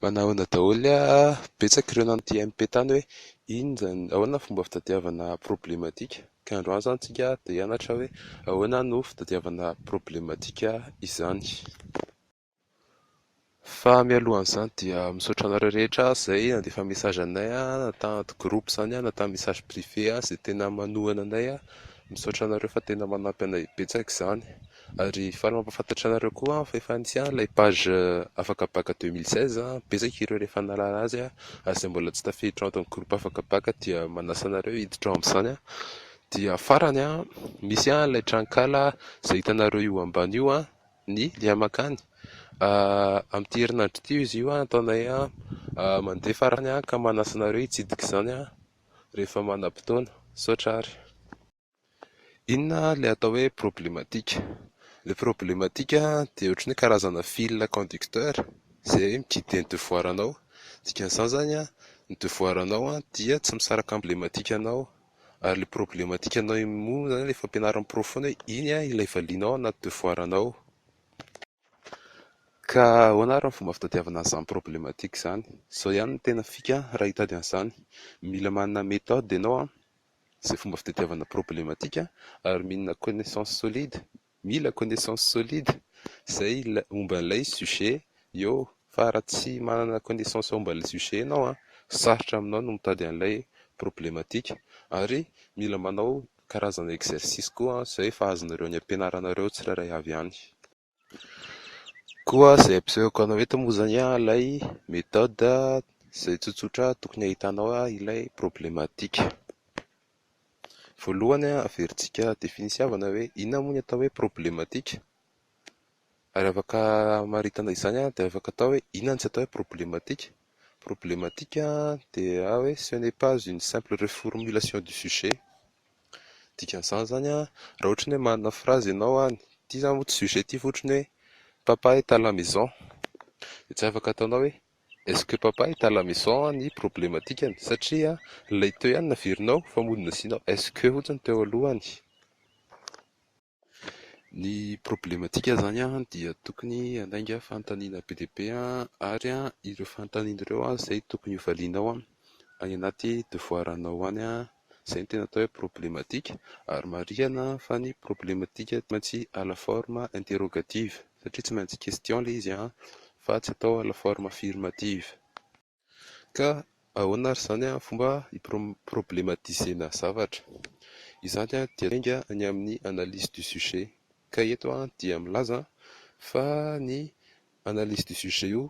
Manahoana daholo ny ahy a! Betsaka ireo nanontia an'i Pe tany hoe inona izany, ahoana ny fomba fitadiavana problematika? Ka androany izany isika dia hianatra hoe ahoana no fitadiavana problematika izany. Fa mialohan'izany dia misaotra anareo rehetra izay nandefa message anay na tany anaty groupe izany na tamin'ny message privé izay tena manohana anay. Misaotra anareo fa tena manampy anay betsaka izany. Ary faly mampafantatra anareo koa aho fa efa nisy ihany ilay page afaka bacc deux mille seize, betsaka ireo rehefa nahalala azy ary izay mbola tsy tafiditra ao anatin'ny groupe afaka bacc dia manasa anareo hiditra ao amin'izany. Dia farany an, misy ihany ilay tranonkala izay hitanareo io ambany io an, ny lien mankany, amin'ity herinandro ity io izy io an, ataonay mandeha farany an, ka manasa anareo hitsidika izany rehefa manam-potoana. Misaotra àry. Inona ilay atao hoe problematika? Ilay problematika dia ohatran'ny hoe karazana fil conducteur izay mi-guider ny devoir anao. Ny dikan'izany izany an, ny devoir anao dia tsy misaraka amin'ny lematika anao, ary ilay problematika anao moa izany ilay fampianarin'ny porofo foana hoe iny ilay valianao anaty devoir anao. Ka ahoana ary ny fomba fitadiavana an'izany problematika izany? Izao ihany no tena fika raha hitady an'izany, mila manana méthode ianao izay fomba fitadiavana problematika ary mila connaissance solide, mila connaissance solide izay momba ilay sujet eo Fa raha tsy manana connaissance ao amban'ilay sujet ianao an, sarotra aminao ny mitady an'ilay problematika. Ary mila manao karazana exercice koa izay efa azonareo any am-pianaranareo tsirairay avy any. Koa izay ampisehoako anao eto moa izany an, ilay méthode izay tsotsotra tokony hahitanao ilay problematika. Voalohany an, averintsika definition-vana hoe inona moa ny atao hoe problematika? Ary afaka hamaritana izany dia afaka atao hoe inona no tsy atao hoe problematika? Problematika dia hoe ce n'est pas une simple reformulation du sujet. Dikan'izany izany an, raha ohatra ny hoe manana phrase ianao any, ity izany moa tsy sujet ity fa ohatra ny hoe papa est à la maison, dia tsy afaka ataonao hoe est ce que papa est à la maison ny problematikany satria ilay teo ihany no averinao fa mody nasianao est ce que fotsiny teo alohany. Ny problematika izany dia tokony handainga fanontaniana be dia be ary ireo fanontaniana ireo izay tokony ho valianao any anaty devoir anao any. Izay no tena atao hoe problematika ary marihina fa ny problematika tsy maintsy à la forme interrogative satria tsy maintsy question ilay izy fa tsy atao à la forme affirmative. Ka ahoana ary izany amin'ny fomba hi-problematiser-na zavatra? Izany dia miainga any amin'ny analyse du sujet. Ka eto aho dia milaza fa ny analyse du sujet io,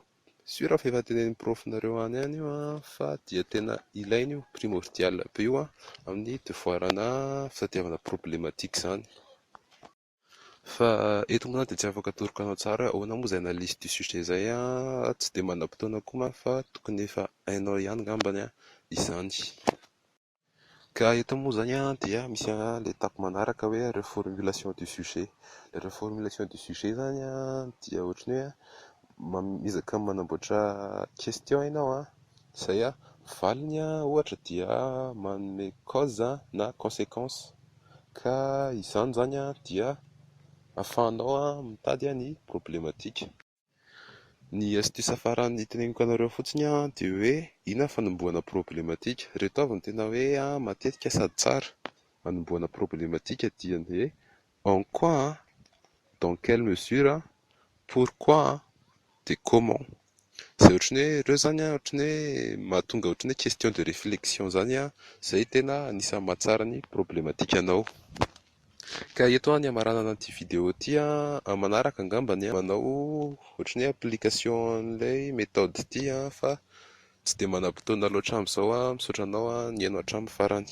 sur fa efa tenenin'ny prof-nareo any ihany io fa dia tena ilaina io, primordial be io amin'ny devoir-na fitadiavana problematique izany. Fa eto moa zany dia tsy afaka atoroka anao tsara hoe ahoana moa izay analyse du sujet izay an, tsy dia manam-potoana koa manko fa tokony efa hainao ihany angambany an izany. Ka eto moa izany an dia misy an ilay étape manaraka hoe reformulation du sujet. Ilay reformulation du sujet izany an dia ohatran'ny hoe an miezaka manamboatra question ianao an, izay an valiny an ohatra dia manome cause na consequence. ka izany izany dia afahanao mitady ny problematika. Ny astuce farany hiteneniko anareo fotsiny dia hoe inona ny fanombohana problematika, ireto avy no tena hoe matetika sady tsara hanombohana problematika dia ny hoe en quoi, dans quelle mesure, pourquoi, de comment? Izay ohatran'ny hoe ireo izany an, ohatran'ny hoe mahatonga ohatran'ny hoe question de réflexion izany an, izay tena anisan'ny mahatsara ny problematikanao. Ka eto an ny hamaranana an'ity vidéo ity an, amin'ny manaraka angamba an, manao ohatran'ny hoe application an'ilay méthode ity an, fa tsy dia manam-potoana loatra amin'izao an, misaotra anao an, nihaino hatramin'ny farany.